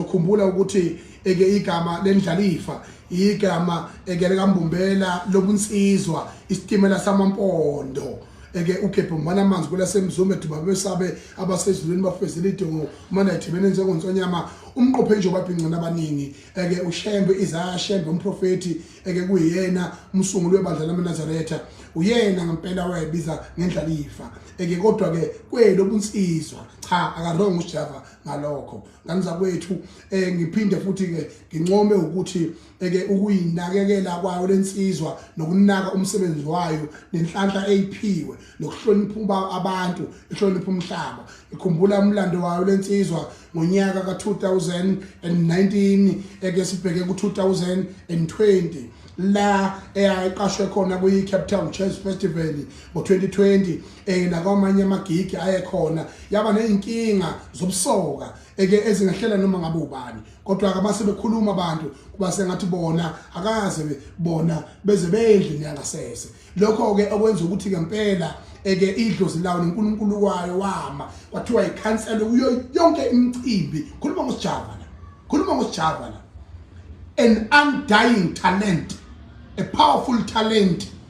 Khumbula ukuthi eke igama lendlalifa igama eke likambumbela lobunsizwa isitimela samampondo eke ugebhe umana amanzi kwelasemzume duba besabe abasezulwini bafezela idongo umana ithibene njengonsonyama umqophe nje obabhincana abaningi eke ushembe izaya shembe umprofeti eke kuyena umsunguli webandla lamaNazaretha uyena ngempela wayebiza ngendlalifa eke kodwa ke kwelo bunsizwa cha akarong uJava ngalokho ngani zakwethu eh ngiphinde futhi ke ngincome ukuthi eke ukuyinakekela kwayo lensizwa nokunaka umsebenzi wayo nenhlanhla eyiphiwe nokuhlonipha abantu ihlonipha umhlaba ngikhumbula umlando wayo lensizwa ngonyaka ka2019 eke sibheke ku2020 la eyayiqashwe khona kuyi Cape Town Jazz Festival ngo2020 eh nakwamanye amagigi ayekhona yaba nezinkinga zobusoka eke ezingahlela noma ngabe ubani kodwa ke base bekhuluma abantu kuba sengathi bona akaze bona beze bendlini yangasese lokho ke okwenza ukuthi ke impela eke idlozi lawo noNkulunkulu wayo wama kwathiwa ikhansela kuyo yonke imicimbi khuluma ngosijava la khuluma ngosijava la an undying talent a powerful talent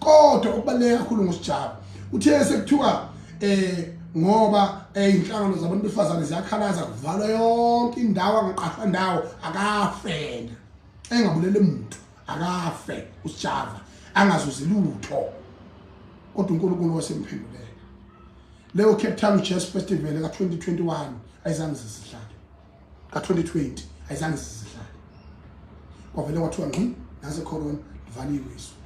kodwa okubaluleke kakhulu ngosijabu uthe sekuthiwa eh ngoba eh, inhlangano zabantu befazane ziyakhalaza kuvalwa yonke indawo angaqashwa ndawo akafena engabulele muntu akafe usijava angazuzi lutho kodwa uNkulunkulu wasemphenduleka leyo Cape Town Jazz Festival ka 2021 ayizange zisihlale ka-2020 ayizange sizihlale kwavele kwathiwa ngqi nasecorona livaliwe izwe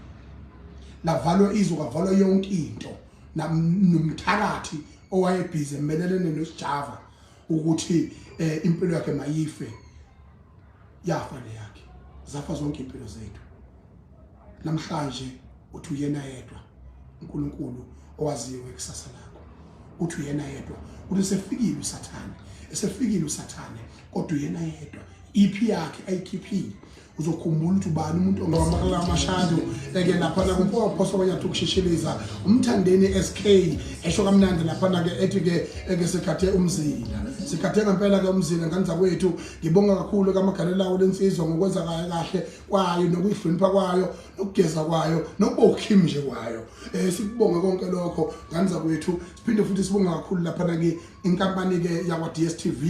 lavalwa izwe kwavalwa yonke into nomthakathi owayebhizi emelelene nosijava ukuthi eh, impilo yakhe mayife yafa leyakhe zafa zonke impilo zethu namhlanje uthi uyena yedwa uNkulunkulu owaziyo ngekusasa lakho uthi uyena yedwa uthi sefikile usathane esefikile usathane kodwa uyena yedwa iphi yakhe ayikhiphile uzokhumbula ukuthi ubani umuntu ongawamakala amashado eke laphana kumpomphoso kwenyathi ukushishiliza umthandeni SK esho kamnandi laphana ke ethi ke eke sikhathe umzila sikhathe ngempela ke umzila nganza kwethu ngibonga kakhulu kamagalela lensizwa ngokwenza kahle kwayo nokuyihlonipha kwayo nokugeza kwayo nokuba ukhimi nje kwayo eh sikubonga konke lokho ngani zakwethu siphinde futhi sibonga kakhulu lapha na ke inkampani ke yakwa DStv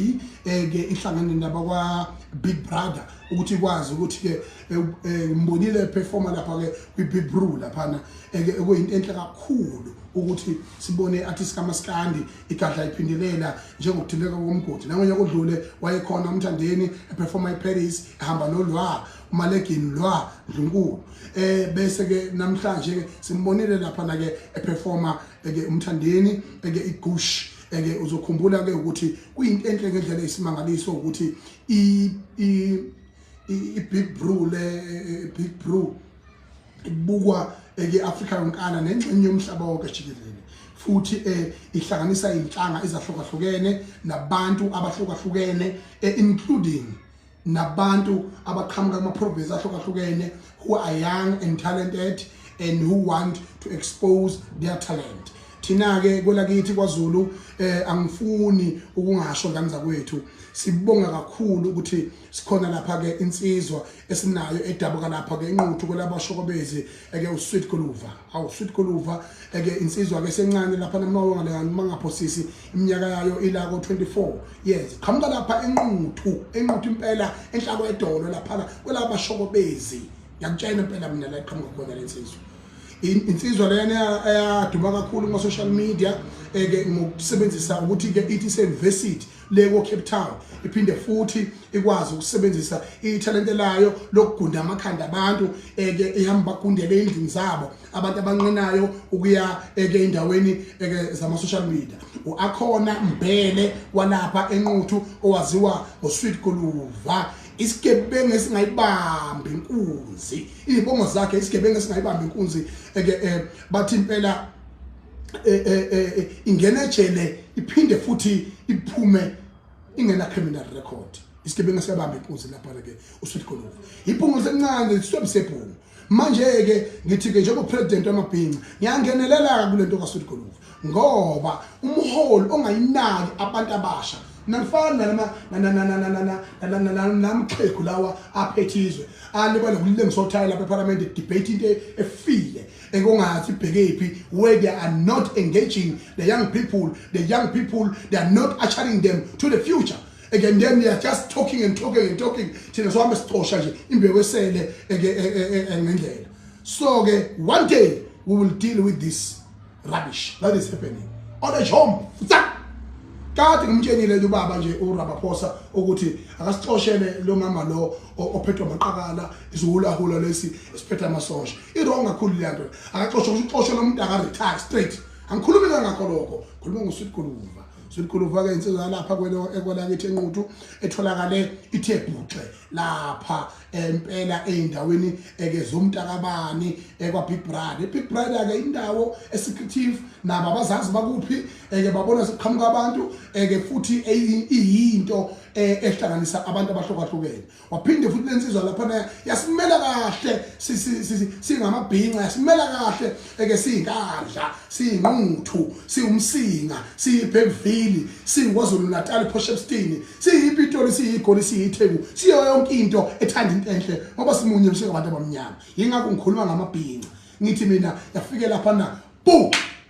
eh ke ihlangene naba kwa Big Brother ukuthi ikwazi ukuthi ke eh, eh, ngimbonile performer lapha ke kwi Big Brew lapha na eh, ekuyinto enhle kakhulu ukuthi sibone artist kamaskandi igadla iphindelela njengokuthinteka komgodi nangonyaka odlule wayekhona umthandeni eperforma iparis ehamba nolwa umalegini lwa ndlunkulu eh bese ke namhlanje ke simbonile lapha na ke eperforma ke umthandeni ke igush ke uzokhumbula ke ukuthi kuyinto enhle ngendlela esimangaliso ukuthi i i big brew le big brew ibukwa ke-afrika yonkana nengxenye yomhlaba wonke jikelele futhi eh ihlanganisa inhlanga ezahlukahlukene nabantu abahlukahlukene eh, including nabantu abaqhamuka kuma province ahlukahlukene who are young and talented and who want to expose their talent thina ke kwelakithi kwaZulu eh angifuni ukungasho ngani zakwethu sibonga kakhulu ukuthi sikhona lapha ke insizwa esinayo edabuka lapha ke inquthu kwelabashokobezi eke usweet goluva awu sweet goluva eke insizwa ke sencane lapha namawo ngale mangapho sisi iminyaka yayo ila ko 24 yes qhamuka lapha enquthu enquthu impela enhlako edolo lapha kwelabashokobezi ngiyakutshela impela mina la iqhamuka khona lensizwa insizwa lena eyaduma kakhulu kuma social media eke ngokusebenzisa ukuthi ke ithi se university le ko-cape town iphinde futhi ikwazi ukusebenzisa ithalente layo lokugunda amakhanda abantu eke eh, ihamba bagundele ey'ndlini zabo abantu abanqenayo ukuya eke eh, endaweni eke eh, zama-social media u-akhona mbhele walapha enquthu owaziwa ngosweet koluva isigebengu esingayibambi inkunzi iy'bongo zakhe isigebengu esingayibambi inkunzi eke bathi impela eh, eh, eh, ingena ejele iphinde futhi iphume ingena criminal record isigebengu siyabamba inkunzi lapha ke usuthi khona iphungu sencane sisobe sephungu manje ke ngithi ke njengo president wamabhinca ngiyangenelela kulento kaSuthi Goluvu ngoba umholi ongayinaki abantu abasha nangifana nalama namxhegu lawa aphethizwe alibale kulengisothayi lapha eParliament debate into efile ekungathi ibhekephi where they are not engaging the young people the young people they are not ushering them to the future again then they are just talking and talking and talking thina sohambe sicosha nje imbewu esele e, e, e, ngendlela so ke one day we will deal with this rubbish that is happening on a jump kade ngimtshenile lo baba nje uRabaphosa ukuthi akasixoshele lo mama lo ophethwe amaqakala isiwulahula lesi esiphethe amasosha iwrong kakhulu leya nto akaxoshwa kusho uxoshwe lo muntu akaretire straight angikhulumi kangakho lokho khuluma ngosweet guluva sweet guluva-ke insizwa yalapha ekwelakithi enquthu etholakale ithe bhuxe lapha empela ey'ndaweni eke zomntakabani ekwa-big bride i-big bride-ke indawo esecretive nabo abazazi bakuphi eke babona sekuqhamuka abantu eke futhi iyinto e, ehlanganisa abantu abahlukahlukene waphinde futhi lensizwa lapha na yasimela kahle singamabhinca yasimela kahle eke siyinkandla siyinquthu siwumsinga siyibhemvili siyikwazulu natal poshepstini siyipitoli siyigoli siyitheku siyo yonke into ethanda into enhle ngoba simunye msingabantu abamnyama yingakho ngikhuluma ngamabhinca ngithi mina yafike lapha na bu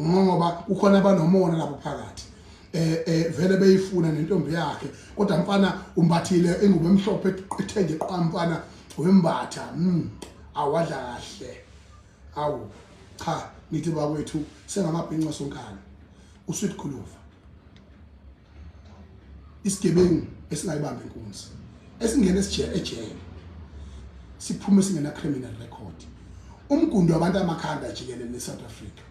ngoba kukhona abanomona lapho phakathi eh eh vele beyifuna nentombi yakhe kodwa mfana umbathile ingubo emhlophe ethenge qwa mfana wembatha mm awadla kahle awu cha ngithi bakwethu sengamabhinqa sonkana usweet khuluva isigebengu esingayibambi inkunzi esingena ejele siphume singena criminal record umgundo wabantu amakhanda jikelele neSouth Africa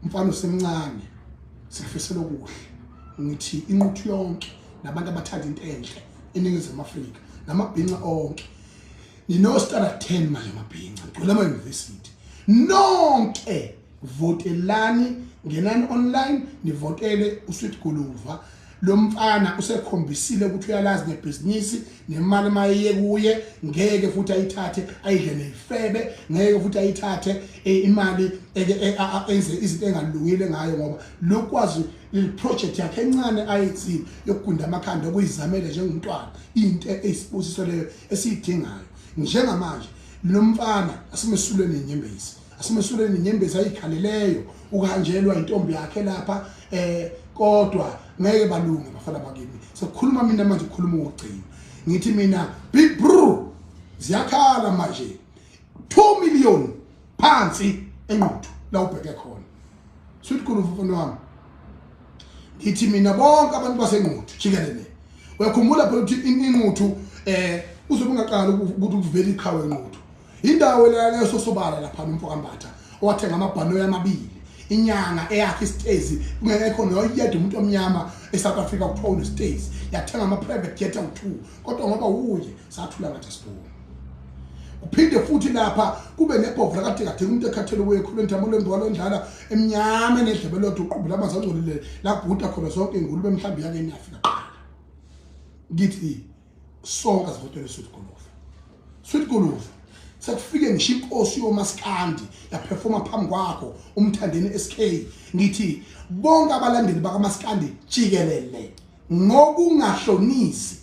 mfana usemncane sikufisela okuhle ngithi inquthu yonke nabantu abathanda into enhle eningizimu Afrika namabhinca onke nino star 10 manje mabhinca ngicela ama university nonke votelani ngenani online nivotele usweet guluva lo mfana usekhombisile ukuthi uyalazi ngebhizinisi nemali mayiye kuye ngeke futhi ayithathe ayidle neyifebe ngeke futhi ayithathe e, imali e, e, enze izinto engalungile ngayo ngoba lokwazi project yakhe encane ayithini yokugunda amakhanda okuyizamele njengomntwana into eyisibusiso leyo esiyidingayo njengamanje lo mfana asimesulweni inyembezi Asimesuleni inyembezi ayikhaleleyo ukuhanjelwa intombi yakhe lapha eh kodwa ngeke balunge bafana bakini. Sekukhuluma mina manje ukhuluma ugcina. Ngithi mina big bro ziyakhala manje 2 million phansi enquthu la ubheke khona. Sweet khulu mfana wami. Ngithi mina bonke abantu basenquthu jikelele. Uyakhumbula phela ukuthi inquthu eh uzobe ungaqala ukuthi kuvele iqhawe enquthu Indawo elalele sosobala lapha umfo kaMbatha owathenga amabhanoyi amabili inyanga eyakhe isitezi kungekho noyedwa umuntu omnyama eSouth Africa kuthiwa unesitezi yathenga ama-private jet awu-two kodwa ngoba wuye sathula ngathi asiboni kuphinde futhi lapha kube nebhovu lakadekadeka umuntu ekhathele kuye khulu entambo lembolo endlala emnyama enedlebe lodwa uqubula amanzi angcolile labhuda khona zonke ingulube mhlawumbe yake niyafika qala ngithi sonke sivotele sweet guluva sweet guluva sekufike ngisho inkosi yomaskandi yaperforma phambi kwakho umthandeni SK ngithi bonke abalandeli bakamaskandi jikelele ngokungahlonisi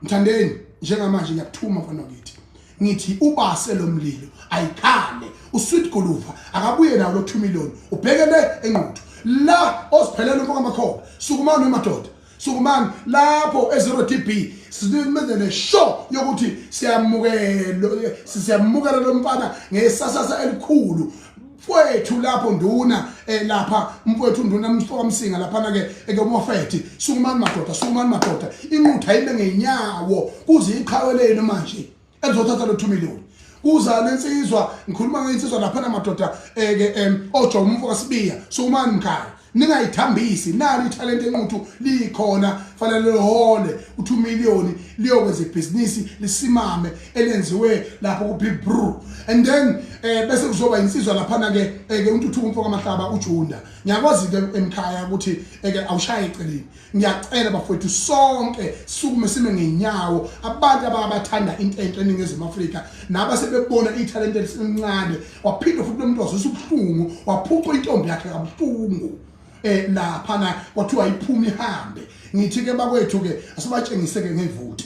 mthandeni njengamanje ngiyakuthuma mfana ngithi ngithi ubase lomlilo ayikhale usweet guluva akabuye nawo lo 2 million ubheke le enquthu la osiphelela umfoka makhoba sukumani emadoda sukumani lapho e-zero d b simenze neshow yokuthi siyamukela siyamukela lo mfana ngesasasa elikhulu mfowethu lapho nduna eh, lapha mfowethu nduna mfoka msinga laphana ke ekomofethi sukumani madoda sukumani madoda inqutha ibe ngenyawo kuze iqhaweleni manje ezothatha lo 2 million kuzala insizwa ngikhuluma ngensizwa lapha namadoda eke eh, em ojo umfo kasibiya sumani mkhaya ningayithambisi nalo ithalente enquthu likhona fanele lihole u2 million liyokwenza ibhizinisi lisimame elenziwe lapho ku big brew and then eh bese kuzoba insizwa lapha na ke eh, ke untuthuko umfo kamahlaba ujunda ngiyakwazi ke emkhaya ukuthi eh, ke awushaye eceleni Ngiyacela bafowethu sonke sukume sime ngenyawo abantu ababathandayo into enhle eNingizimu Afrika naba sebebona ithalente elisencane waphinde futhi lomuntu wazisa ubuhlungu waphuca intombi yakhe kabuhlungu eh lapha na kwathiwa iphuma ihambe ngithi ke bakwethu ke asibatshengise ke ngevoti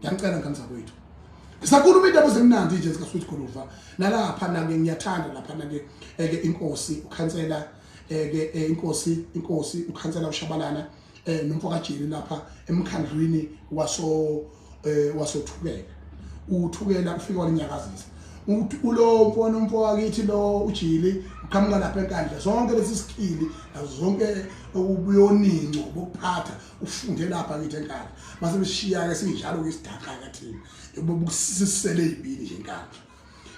ngiyanicela ngane zakwethu ngisakhuluma indaba ezimnandi nje zikasweet goluva nalapha nake ngiyathanda lapha nake eke eh, inkosi ukhansela eke eh, eh, inkosi inkosi ukhansela ushabalana nomfo kajeni lapha emkhandlwini waso wasothukela uthukela ufike walinyakazisa ulo mfona umfo wakithi lo ujili uqhamuka lapha enkandla zonke lesi sikhili nazo zonke ubuyoninco bokuphatha ufunde lapha kithi enkandla mase mishiya-ke sinjalo ke isidaqa-ke thina bobusisele iy'bili nje enkandla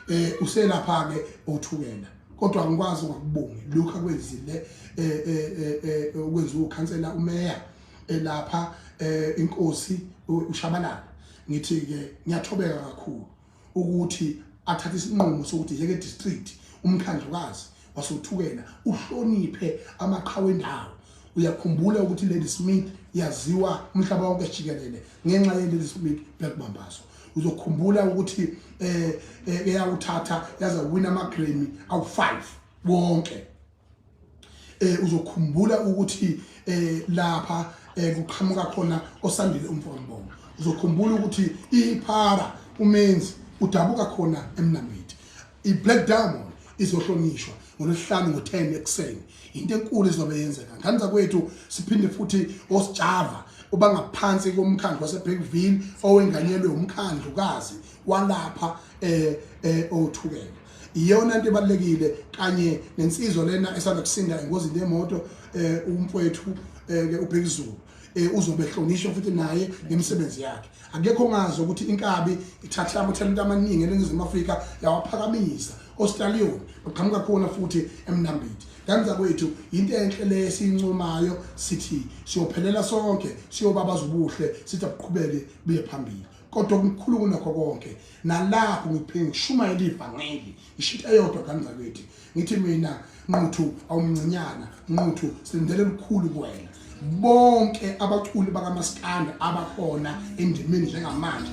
um eh, uselapha-ke othukela kodwa ngikwazi ungakubongi lokhu akwenzile um eh, eh, eh, okwenziwa ukhansela umeya elapha um inkosi ushabalala ngithi-ke ngiyathobeka kakhulu ukuthi athathe isinqumo sokuthi yeke district umkhandlukazi wasothukela uhloniphe amaqhawe endawo uyakhumbula ukuthi Lady Smith yaziwa umhlaba wonke jikelele ngenxa ye Lady Smith Black Mambazo uzokhumbula ukuthi eh, eh eyawuthatha yaza wina ama Grammy awu5 wonke eh uzokhumbula ukuthi eh lapha eh kuqhamuka khona osandile umfombongo uzokhumbula ukuthi iphara umenzi udabuka khona emnamiti iblack diamond izohlonishwa ngolwesihlanu ngo-10 ekuseni into enkulu izobe yenzeka ngane zakwethu siphinde futhi osijava ubangaphansi komkhandlu waseBeckville owenganyelwe umkhandlu kazi walapha eh eh othukela iyona into ebalekile kanye nensizwa lena esanda kusinda engozini yemoto eh umfowethu eh, ke ubhekizulu eh uzobe hlonishwa futhi naye ngemisebenzi yakhe akekho ngazi ukuthi inkabi ithatha amathalente amaningi eningizimu Afrika yawaphakamisa oStallion uqhamuka khona futhi emnambiti kanza kwethu into enhle le esincomayo sithi siyophelela sonke siyobabaza ubuhle sithi akuqhubeke buye phambili kodwa okukhulu kunakho konke nalapho ngiphinde ngishumayela ivangeli ngishitha eyodwa kanzakwethu ngithi mina nquthu awumncinyana nquthu silindele lukhulu kuwena bonke abaculi bakamaskanda abakhona endimeni njengamanje